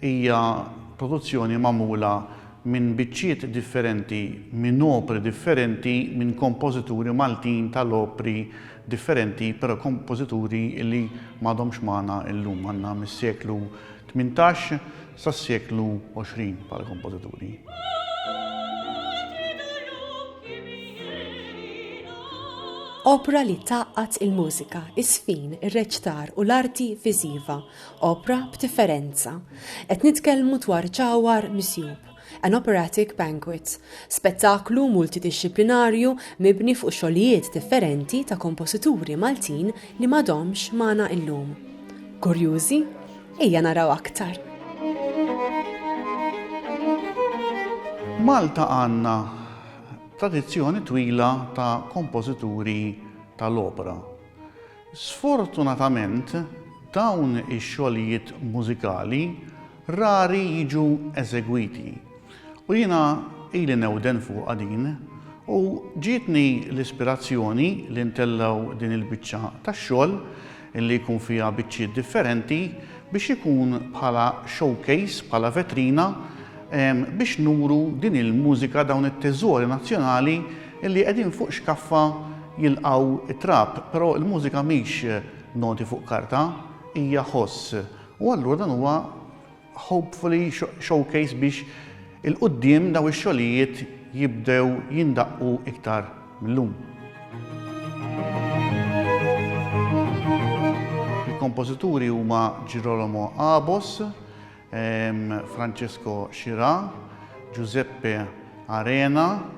Hija produzzjoni magħmula minn biċċiet differenti, minn opri differenti, minn kompożituri Maltin tal-opri differenti, però kompożituri li m'għadhomx magħna llum. Għandna mis-seklu tmintax sas-seklu għoxrin bħala kompożituri. Opra li tgħaqqad il-mużika, is-sfin, ir-reċtar u l-arti viżiva Opra b'differenza. Qed nitkellmu dwar Ġawhar Misjub, An Operatic Banquet, spettaklu multidixxiplinarju mibni fuq xogħlijiet differenti ta' kompożituri Maltin li m'għadhomx magħna illum. Kurjużi? Ejja naraw aktar! F'Malta għandna tradizzjoni twila ta' kompożituri tal-opra. Sfortunatament, dawn ix-xogħlijiet mużikali rari jiġu eżegwiti, u jiena ili newden fuqha din, u ġietni l-ispirazzjoni li ntellgħu din il-biċċa tax-xogħol, li jkun fiha biċċiet differenti, biex ikun bħala showcase, bħala vetrina, biex nuru din il-mużika, dawn it-teżori nazzjonali Illi qegħdin fuq xkaffa jilqgħu t-trab, però l-mużika mhix noti fuq karta, hija ħoss. U allura dan huwa hopefully showcase biex 'il quddiem dawn ix-xogħlijiet jibdew jindaqqu iktar mil-lum. Il-kompożituri huma Girolamo Abos, Francesco Scirà, Giuseppe Arena,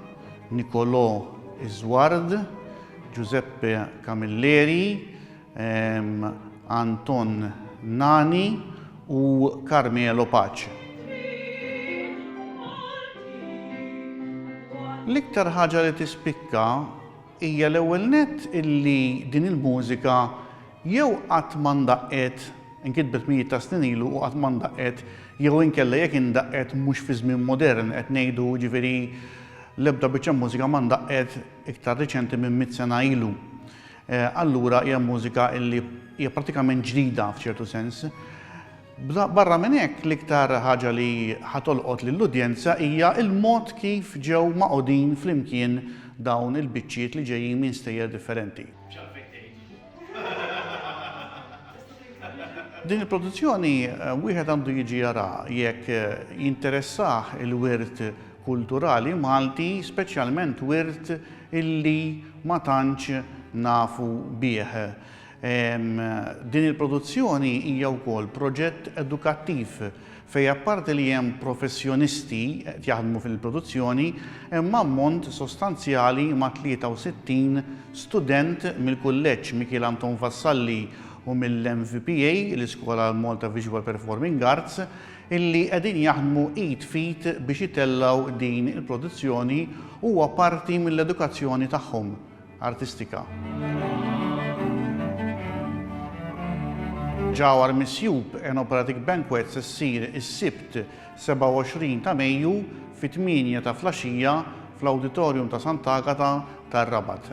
Nicolò Isward, Giuseppe Camilleri, Anton Nani u Carmelo Pace. L-iktar ħaġa li tispikka hija l-ewwel nett illi din il-mużika jew qatt ma ndaqqet, inkitbet mijiet ta' snin ilu u qatt ma ndaqqet, jew inkella jekk indaqqet mhux fi żmien modern, qed ngħidu jiġifieri l-ebda biċċa mużika ma ndaqqet iktar riċenti minn mitt sena ilu. Allura hija mużika illi hija prattikament ġdida f'ċertu sens. Barra minn hekk, l-iktar ħaġa li ħa tolqot lill-udjenza hija l-mod kif ġew magħqudin flimkien dawn il-biċċiet li ġejjin minn stejjer differenti. Din il-produzzjoni wieħed għandu jiġi jaraha jekk jinteressah il-wirt kulturali Malti, speċjalment wirt illi ma tantx nafu bih. Din il-produzzjoni hija wkoll proġett edukattiv fejn apparti li hemm professjonisti qed jaħdmu fil-produzzjoni, hemm ammont sostanzjali ma' 63 student mill-Kulleġġ Mikiel Anton Vassalli u mill-MVPA, l-Iskola Malta Visual Performing Arts, illi qegħdin jaħdmu id f'id biex itellgħu din il-produzzjoni huwa parti mill-edukazzjoni tagħhom. artistika. Ġawhar Misjub Enoperatic Banquets issir is-Sibt 27 ta' Mejju fit-tmienja ta' flaxija fl-Awditorium ta' Sant'Agata tar-Rabat.